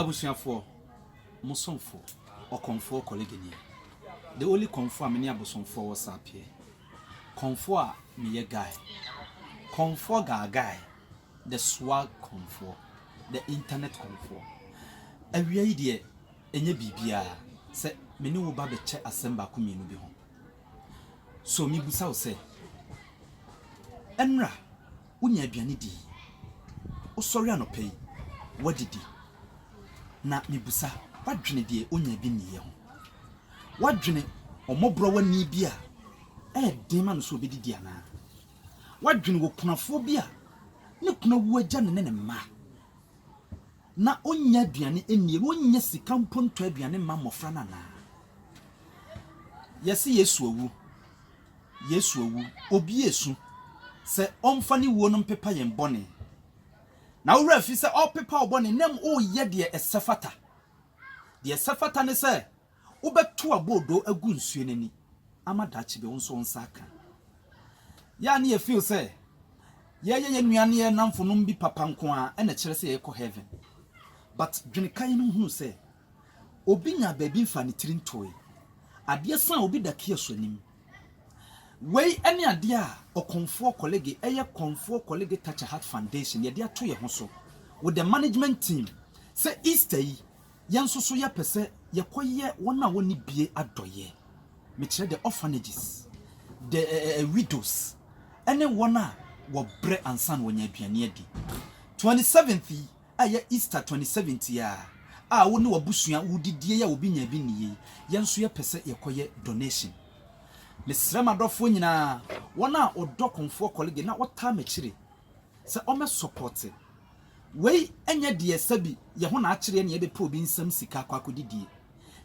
Abusuafoɔ, mo somfo, ɔkɔmfoɔ Kɔlegeni, the only kɔmfoɔ a me ne abosomfoɔ wɔ saapeɛ, kɔmfoɔ a meyɛ guy, kɔmfoɔ gaa guy, the swag kɔmfoɔ, the internet kɔmfoɔ. Awia yi deɛ, ɛnyɛ biribiara sɛ me ne wo ba bɛkyɛ asɛm baako mmienu bi ho. So mebisa wo sɛ, ɛnra? Wonya aduane di. Wosɔre anɔpa yi, woadidi. Na mibisa, woadwene deɛ onyaa bi nniiɛ ho? Woadwene ɔmmɔborɔwani bi a ɛyɛ den ma no sɛ ɔbɛdidi anaa? Woadwene okunafoɔ bi a ne kunu awu agya no ne ne mma, na ɔnnya aduane nnie, na ɔnnya sika mpo ntɔ aduane mma mmɔfra no anaa? Yɛse Yesu awu. Yesu awu, obi resu sɛ ɔmfa ne wuo no mpepa yɛn bɔne. Na wo werɛ afi sɛ ɔrepepa wo bɔne na mmom woreyɛ deɛ ɛsɛ fata. Deɛ ɛsɛ fata ne sɛ wobɛto aboodo agu nsuo no ani ama daakye bi wo nso wo nsa aka. Yɛ a na yɛ feel sɛ yɛyɛ yɛn nua ne yɛn nnamfonom bi papa nko ara na ɛkyerɛ sɛ yɛkɔ heaven. But dwene kan no hunu sɛ. Obi nyaa baabi mfaa ne tiri ntoe. Adeɛ sa a obi da kia so anim. Wei ne adeɛ a ɔkɔmfoɔ kɔlege, ɛyɛ Kɔmfoɔ Kɔlege Touch a Heart Foundation, yɛde ato yɛn ho so with the management team sɛ Easter yi yɛn nso so yɛpɛ sɛ yɛkɔyɛ wɔn a wɔnni bie adɔeɛ. Mekyerɛ the orphanages, the eh, eh, eh, widows, ɛne wɔn a wɔbrɛ ansa na wɔnya aduane adi. 27th yi, a ɛyɛ Easter twenty seventh yi ara a wo ne w'abusua wodidie a obi nya bi nni yei, yɛn nso yɛpɛ sɛ yɛkɔyɛ donation. Mesrɛ m'adɔfoɔ nyinaa, wɔn a wɔdɔ Komfoɔ Kɔlege na wɔtaa m'akyire sɛ wɔmmɛsɔpɔte. Wei nyɛ deɛ sɛbi yɛ ho na akyereɛ na yɛbɛpɛ obi nsam sika akɔ akɔdidie,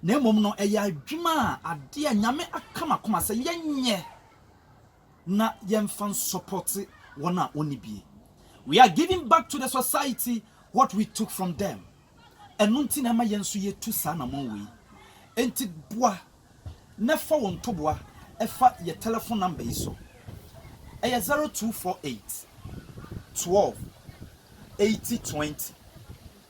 na mmom no ɛyɛ adwuma a adeɛ a Nyame aka m'akoma sɛ yɛnyɛ na yɛmfa nsɔpɔte wɔn a wɔnni bi. We are giving back to the society what we took from them. Ɛno nti na ɛma yɛn nso yɛtu saa anammɔn wei. Enti boa na fa wo ntoboa fa yɛ tɛlɛfon namba yi so. Ɛyɛ 0248 12 80 20.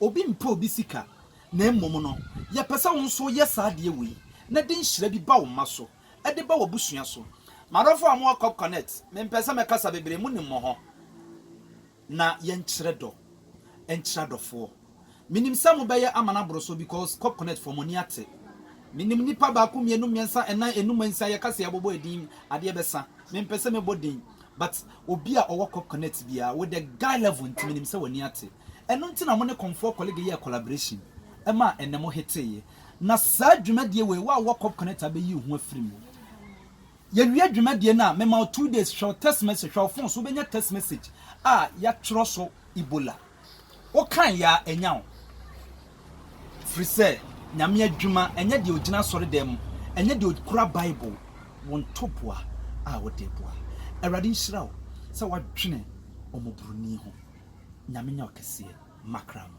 Obi mpɛ obi sika, na mmom no, yɛpɛ sɛ wo nso woyɛ saa adeɛ wei na de nhyira bi ba wo mma so, de ba w'abusua so. M'adɔfoɔ a mowɔ Corp Connect, mempɛ sɛ mɛkasa bebree, monim mo hɔ, na yɛnkyerɛ dɔ nkyerɛ adɔfoɔ. Menim sɛ mobɛyɛ ama no aboro so because Corp Connect foɔ, mo ani ate. Menim nnipa baako, mmienu, mmiɛnsa, nnan, nnum, nsia, yɛka sɛ yɛabobɔ din, adeɛ bɛsa. Mempɛ sɛ mɛbɔ din, But obi a ɔwɔ Corp Connect biara with the guy level nti menim sɛ w'ani ate. Ɛno nti na mo ne Komfoɔ Kɔlege yɛɛ collaboration ɛmaa ɛnnɛ mo heteeɛ. Na saa dwumadie wei wo a wowɔ Corp Connect abɛyi wo ho afiri mu. Yɛwie dwumadie no a mema wo two days hwɛ wo text message, hwɛ wo phone so wobɛnya text message a yɛatwerɛ so Ebola. Wo kan ya anya wo firi sɛ Nyame adwuma ɛnyɛ deɛ ɔgyina asɔredan mu, ɛnyɛ deɛ ɔkura Bible, wo ntoboa a wode boa. Awurade nhyira wo sɛ woadwene ɔmɔboroni ho. Nyame nyɛ wo kɛseɛ, Macra no.